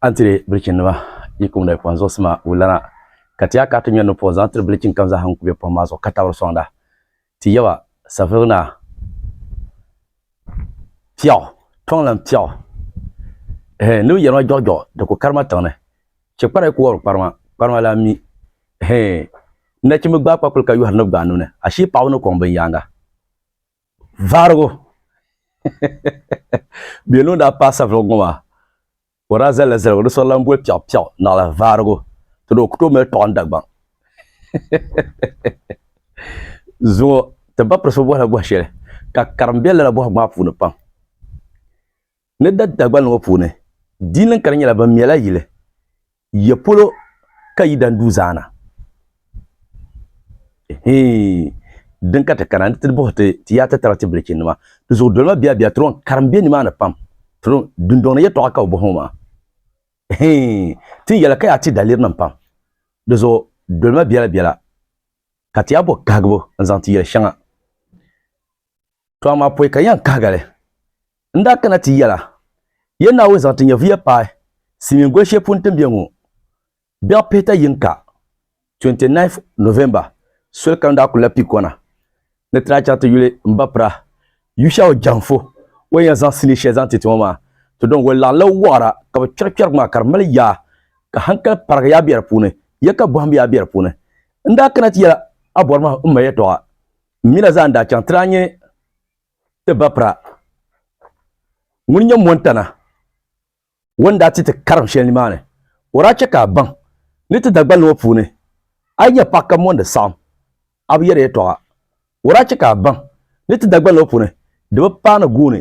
An tiri bilichin nima yi kumda yi pɔhim zuɣusima wulana ka ti a ka ti ŋmɛri ni pɔh zaŋ tiri bilichin kam zaa ha n-ku bɛ pɔhim maa zuɣu ka tabiri sɔŋda ti yaba safirigi naa piɛɣu tɔŋlan piɛɣu hee ni bi yɛri ma jɔɣijɔɣu di ku kari ma tiŋ ni chɛ kpara yi ku wɔbiri kparima kparima lan mi hee nachimba gbaai kpakuli ka yɔhiri ni bɛ gbaai nuu ni ashii paɣaba ni kɔŋ binyaaŋa. Vaarigu bɛ yɛn daa paai savuligu ŋɔ maa ka o daa zalila zaligu di sɔri lan boli piɛɣu piɛɣu naɣila vaarigu ti di o ku tooi mali tɔɣu n-dagbaŋ zuŋɔ ti ba pirisi bi bɔhila bɔh shɛli ka karim be lala bɔhigu maa puuni pam. Ni da Dagbani ŋɔ puuni, diinlin ka di nyɛla bɛ mɛla yili ya polo ka yi da n-du zaana. Hii din ka ti kana ni ti buhi ti ti yaati taba ti bilichinnima, di zuɣu dolima biɛbiɛ tiro n-karim be nimaani pam, tiro dundɔŋ ni yɛtɔɣa ka bɛ buhi ŋɔ maa. Hii ti ni yɛli ka yaa ti dalirinim pam, di zuɣu dolima biɛla biɛla ka ti yaa bɔ kahigibu n-zaŋ ti yɛli shɛŋa. To amaa pɔi ka yɛn kahigali. N daa kana ti yɛla, Yɛ Naawuni zaŋ ti nyɛvuya paai silimiin goli shɛli puuni ti ni be ŋɔ. Biɛɣu pihita yiŋka, 29th November, soli ka n daa kuli lahi pii kɔna ni ti daa chaŋ ti yuli m ba Pirah Yushau Janfo o ni yɛn zaŋ sili shɛli zaŋ ti ti ŋɔ maa. To din goli laɣinla wɔɣira ka bɛ kpɛri kpɛrigu maa ka di mali yaa ka hankali parigi yaa be di puuni, ya ka bɔhim yaa be di puuni. N daa kana ti yɛla, A bɔri ma m ma yɛtɔɣa. M mi la zaa n-daa chaŋ ti daa nyɛ ti ba pira ŋun nyɛ Mɔntana o ni daa ti ti karim shɛli nimaani. O daa chɛ ka a baŋ ni ti Dagbani ŋɔ puuni a yi nyɛ paɣ ka mɔndi saɣim a bi yɛri yɛtɔɣa. O daa chɛ ka a baŋ ni ti Dagbani ŋɔ puuni di bi paai ni gooni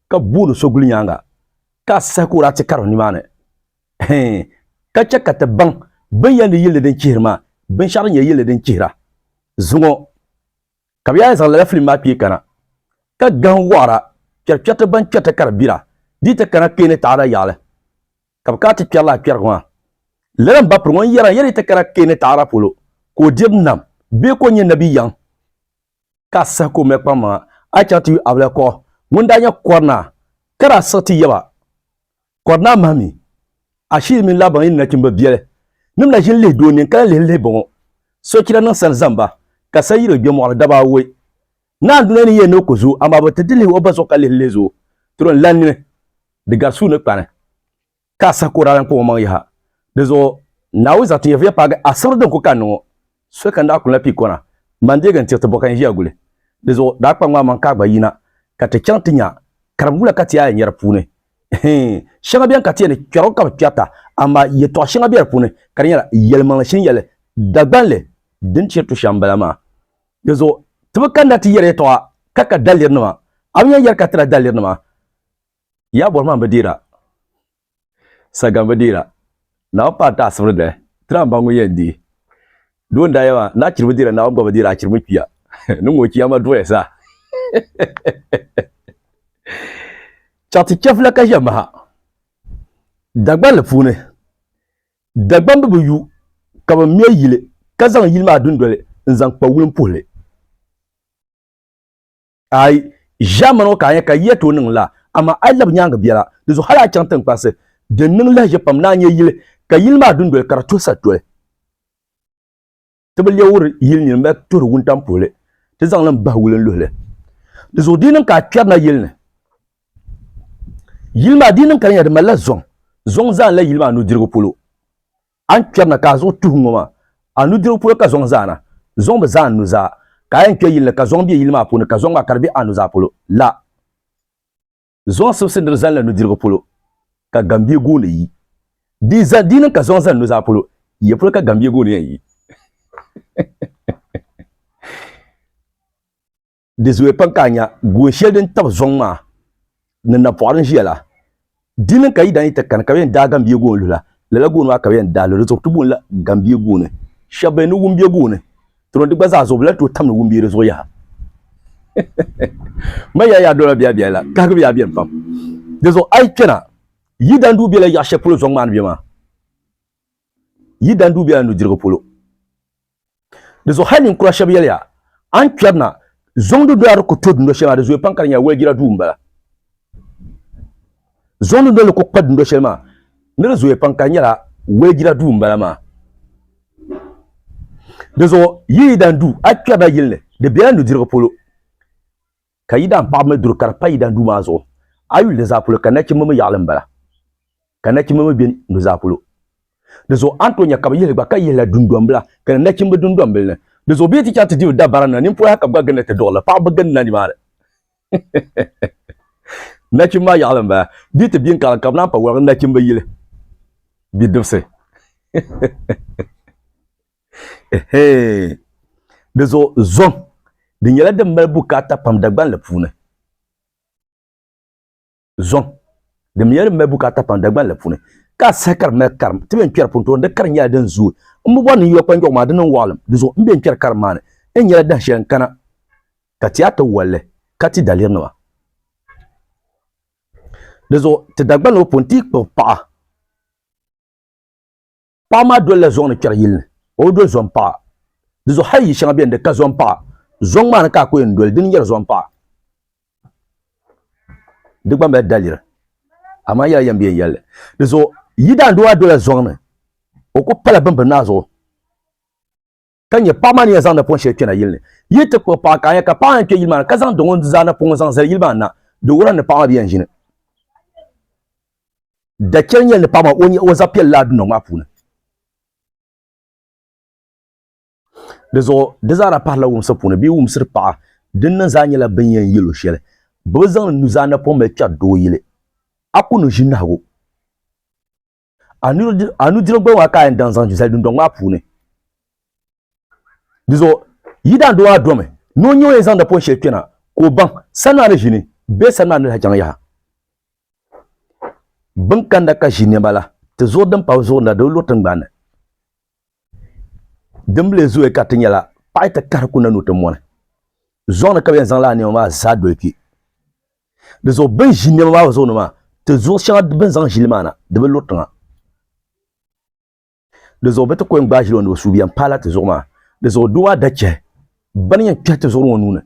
ka booni so guli nyaaŋa ka a sahi ka o daa ti karim nimaani. ka chɛ ka ti baŋ bɛn yɛn di yilli din chihiri maa, binshɛɣu din nyɛ yilli din chihira zuŋɔ. Ka bɛ yaa zaŋ lala filim maa kpee kana, ka gahim wɔɣira kpɛrikpɛriti ban kpɛriti ka di bira dii ti kana kpee ni taɣada yaɣili, ka bɛ kana ti kpɛri lala kpɛrigu maa. Lala m-ba piri ŋun yɛra yɛli ti kana kpee ni taɣada polo ka o diri nam bee ka o nyɛ nabi yaŋ, ka a sahi ka o mali kpaŋmaŋa a chaŋ ti yu Abilɛkuɣu ŋun daa nyɛ kɔrinaa ka daa siɣi ti yaba Kɔri naa mahi mi, Ashili mini Laban yi ni nachimba biɛli nim na ʒini lihi doo nini ka lahi lihiri lihi bɔŋɔ, Sochira niŋ sani zaŋ ba, ka sani yiri o gbe mɔɣili daba awɔi. Naa n-duna ni yɛn ni o ku zoo, amaa bɛ ti di lihi o ba zuɣu ka lihiri lihi zoo, tiri o n lan nini, di gari suu ni kpani, ka a saha ka o daa lan kɔŋ o maŋ yaha. Dinzuɣu Naawuni zaŋ ti nyɛviya paagi asibri din ku kanni ŋɔ. Soli ka n daa kunila pii kɔna, m ba n-deegi n tiri ti bo ka n ʒiya guli. Di zuɣu daa kpa ŋmaa man ka a gba yina ka ti chaŋ ti nya karimbula ka ti a yɛnyɛri puuni. Hii, shɛŋa beni ka ti yɛli ni kpɛrigu ka bi kpɛrita, amaa yɛtɔɣ shɛŋa be di puuni ka di nyɛla yɛlimaŋli shini yɛli Dagbaŋ li din chiri tu shɛm m-bala maa. Di zuɣu ti bi kanda ti yɛri yɛtɔɣa ka ka dalirinima. A bi nya yɛri ka tira dalirinima. Ya bɔhima bi deera, sagam bi deera, Naawuni paai ti asibiri dali, tiri ambaŋu yɛn deei. Doo n-daa yɛli ma, Naachiri bi deera, Naawuni gba bi deeri achiri mini kpiya, ni ŋun o kpiya ma duɣiya zaa. Chaŋ ti chɛfila ka ʒe maha Dagbanli puuni. Dagbamb bi yu ka bɛ me yili ka zaŋ yili maa dundoli n-zaŋ kpa wulimpuhili. A yi ʒiɛm mini o ka a nya ka yiya tooi niŋ laa, amaa a yi labi nyaaŋa biɛla. Di zuɣu hal a chaŋ tiŋkparisi din niŋ lahiʒiɛ pam ni a nya yili, ka yili maa dundoli ka di tuhi satoli. Ti bi leei wuri yili nyin mali tuhiri wuntaŋ puhili, ti zaŋ li m-bahi wulin luhi li. Di zuɣu di yi niŋ ka a kpɛrina yili ni, yili maa di yi niŋ ka di nya di malila zɔŋ, zɔŋ zaanila yili maa nudirigu polo. A ni kpɛri na ka a zuɣu tuhi ŋɔ maa, a nudirigu polo ka zɔŋ zaana. Zɔŋ bi zaa n nuzaa. Ka a yɛn kpɛ yili ni ka zɔŋ be yili maa puuni ka zɔŋ maa ka di be a nuzaa polo la. Zɔŋ sibisi ni di zani la nudirigu polo ka gambie gooni yi. Di zani di ni ka zɔŋ zani nuzaa polo yiya polo ka gambie gooni yɛn yi. di zooya pam ka a nya goon shɛli din tab zɔŋ maa ni napɔɣu din ʒiya la. Di ni ka yi daa ni ti kani ka bɛ yɛn daai gambia goon luhi la, lala goon maa ka bɛ yɛn daai luhi. Di zuɣu ti boonila gambia gooni. Shɛba bɛn ni wumbia gooni tiro di gba zaa zuɣu bɛ lahi tooi tamdi wumbia di zuɣu yaha. Man yaa yaa dɔla biɛhibiɛhi la, kahigibu yaa beni pam. Di zuɣu a yi kpɛna, yi daa ni duhi bela yaɣ shɛli polo zɔŋ maa ni be maa. yi dan dubiya nudirigu polo. Di zuɣu hali ninkura shɛba yɛliya, A ni kpɛri na, Zoŋdi doli a di ku to dundo shɛli maa, di zooya pam ka di nyɛla waligira duu m-bala. Zoŋdi doli di ku kpa dundo shɛli maa, ni di zooya pam ka di nyɛla waligira duu m-bala maa. Di zuɣu yi yi dan du, a kpɛri na yili ni, di bela nudirigu polo. ka Yidan paɣaba mi duri ka di pa Yidan duu maa zuɣu. A yuli di zaa polo ka nachimba mi yaɣili m-bala, ka nachimba mi be nuzaa polo. Di zuɣu a ni tooi nya ka bɛ yihi li gba ka yihi la dundɔmbila ka ni nachimba dundɔmbili ni. Di zuɣu bɛ yi ti chaŋ ti diri dabara na, nimpɔyahi ka bɛ gba ginda ti duɣiri li. Paɣaba bi gindina nimaani. Nachimba maa yaɣili m-bala. Bɛ yi ti bɛ n-kaɣili ka bɛ naan pa waligi nachimba yili bidibisi. Di zuɣu zɔŋ di nyɛla din mali bukaata pam Dagbanli puuni zɔŋ din nyɛla din mali bukaata pam Dagbanli puuni ka a saha ka di mali karim ti bɛn kpɛri puuni tooni di karim nyɛla din zooi n bi bɔri ni n yɔ kpanjɔɣu maa di niŋ waɣilim di zuɣu n bɛn kpɛri karim maa ni n nyɛla dahin shɛli n kana ka ti a tiwalli ka ti daliri nima di zuɣu ti Dagbanli ŋɔ puuni ti yi kpuɣi paɣa Paɣa maa dolila zɔŋ ni kpɛri yili ni, o bi doli zɔŋ paɣa. Di zuɣu hal yi shɛŋa beni di ka zɔŋ paɣa. Zɔŋ maa ni ka a ku yɛn doli, di ni nyɛri zɔŋ paɣa. Di gba mali daliri, amaa yɛla yɛn bi yɛn yɛli li. Di zuɣu yi daandoo maa dolila zɔŋ ni, o ku pala bini bi naai zuɣu. ka nyɛ paɣa maa ni yɛn zaŋ napɔŋ shɛli kpɛna yili ni yi ti kpuɣi paɣa ka a nya ka paɣa yɛn kpɛ yili maa ni ka zaŋ dɔŋɔ zaa napɔŋ zaŋ zali yili maa na di wuhira ni paɣa maa bi yɛn ʒini dachɛli nyɛli ni paɣa maa o nyɛ o zaɣ piɛlli laa dundoŋ maa puuni di zuɣu di zaara pahila wumsi puuni bee wumsiri paɣa din niŋ zaa nyɛla bin yɛn yɛlo shɛli bi bi zaŋ nuzaa napɔŋ mali kpɛri doo yili a ku ni ʒi nahigu A nudirigu gba maa ka a yɛn daŋ zaŋ zali dundɔŋ maa puuni. Di zuɣu yi daan doo maa domi ni o nyɛ o yɛn zaŋdi pɔn shɛli kpɛna ka o baŋ sani maa ni ʒini bee sani maa ni lahi chaŋ yaha. Bin kanda ka ʒi nɛma la ti zuɣu din pahi zuɣu ni la di bi luri tiŋgbani ni. Din bi lee zooyi ka ti nyɛla paɣi ti kahiri ku na ni o ti mɔni. Zɔŋ ni ka bɛ yɛn zaŋ lala nɛma maa zaa doli kpi. Di zuɣu bin ʒi niɛma maa zuɣu ni maa ti zuɣu shɛŋa bin zaŋ ʒili maa na di bi luri tiŋa di zuɣu bi ti ko n gbaai ʒili o ni bi suubiya n paala ti zuɣu maa di zuɣu doo maa da chɛhi bani yɛn kpɛhi ti zuɣu ŋɔ nuuni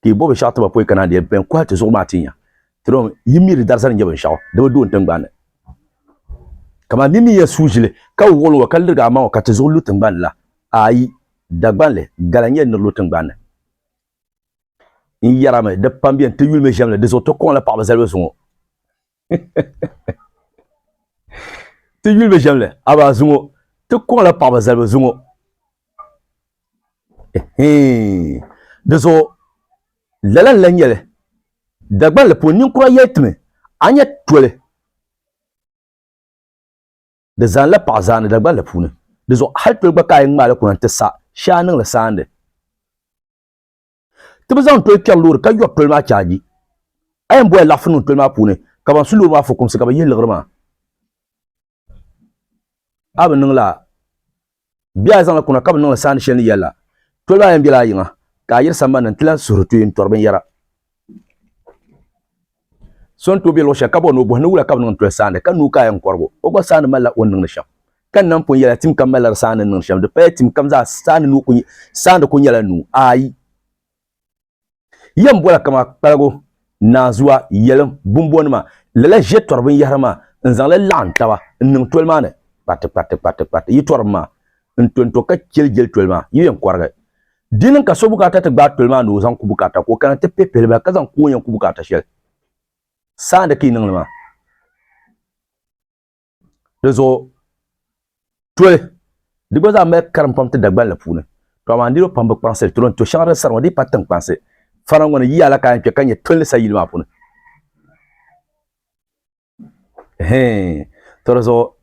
ka i bɔbi shɛɣu tiba pɔi kana di yɛn kɔhi ti zuɣu maa ti nya ti dɔn yi mi di darzani nyɛ binshaɣu di bi doon tingbanni kamani di mi yɛn suu ʒili ka wuɣili ŋɔ ka lirigi amaŋɔ ka ti zuɣu lu tingbanni la ayi dagbanli gala nyɛ ni lu tingbanni n yɛrami di pam bɛni ti yulimi ʒɛmli di zuɣu ti kɔŋ la paɣaba zalibu zuŋɔ ti yulimi ʒɛmli aba zuŋɔ ti kɔŋ la paɣaba zalibu zuŋɔ di zuɣu lala n la nyɛli dagbanli puuni ninkura yɛli timi a nyɛ toli Di zaanila paɣa zaani Dagbanli puuni. Di zuɣu hal toli gba ka a yi ŋmaali kuna nti sa, shee a niŋ li saandi. Ti bi zaŋ toli kpɛri loori ka yɔri toli maa chaaji. A yɛn bɔya laɣifu niŋ toli maa puuni ka ban su loori maa fukumsi ka bɛ yihi liɣiri maa. A bi niŋ lala Bɛ yaa zaŋla kuna ka bɛ niŋla saani shɛli ni yɛli la, Toliba a yɛn bela a yiŋa, ka a yiri sambani ni n-ti lan suhiri tuye n-tɔri binyɛra. So n-tooi be luɣ shɛli ka bɔri ni o bɔhi ni wula ka bɛ niŋ n-toli saani, ka nuu ka a yɛn kɔrigu. O gba saani malila o ni niŋdi shɛm. Ka n nam pun yɛli a, tim kam malila di saani ni niŋdi shɛm, di paya tim kam zaa saani ni o ku saani ku nyɛla nuu ayi. Yɛm bɔla kama kpaligu, naanzua, yɛlim, bumbɔnima, lala ʒe tɔri binyɛhiri maa n-zaŋ li laɣim taba n-niŋ toli maa ni kpatikpatikpatikpati yi tɔrim maa n-tonto ka jeli jeli toli maa yi yɛn kɔrigi. Di niŋ ka so bukaata ti gbaai toli maa ni o zaŋ ku bukaata ka o kana ti pihipihili ba ka zaŋ ku o yɛn ku bukaata shɛli saani ka yi niŋ li maa. di zuɣu toli di gba zaa mali karim pam ti Dagbani la puuni to amaa niriba pam bi kpaŋsiri toli n to shɛŋa din sara ŋɔ di yi pa tiŋkpansi fana ŋɔ ni yiya la ka a yɛn kpɛ ka nyɛ toli ni sa yili maa puuni hɛn to di zuɣu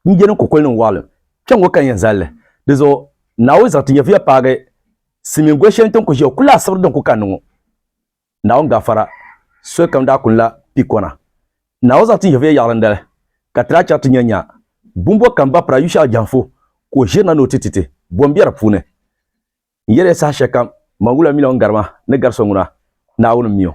n jɛni kokoli nim waɣalim kpɛ ŋɔ ka n yɛn zalili di zuɣu naawuni zaŋ ti nyɛvuya paagi silimiin goli shɛli n tin ku ʒiya o ku lahi sibiri din ku kanni ŋɔ Naawuni gafara solikam daa kuni la pikɔna. Naawuni zaŋ tin Yɛhudiya yaɣili n-dali, ka ti daa chɛri ti nyanya bumbɔr kam bapira Yushɛa jɛhiŋfu ka o ʒiri na ni o ti ti ti bɔ m-be di puuni. N yɛli ya saha shɛlikam, man wula miliɔn gari ma ni gari so ŋuna, Naawuni m-mi o.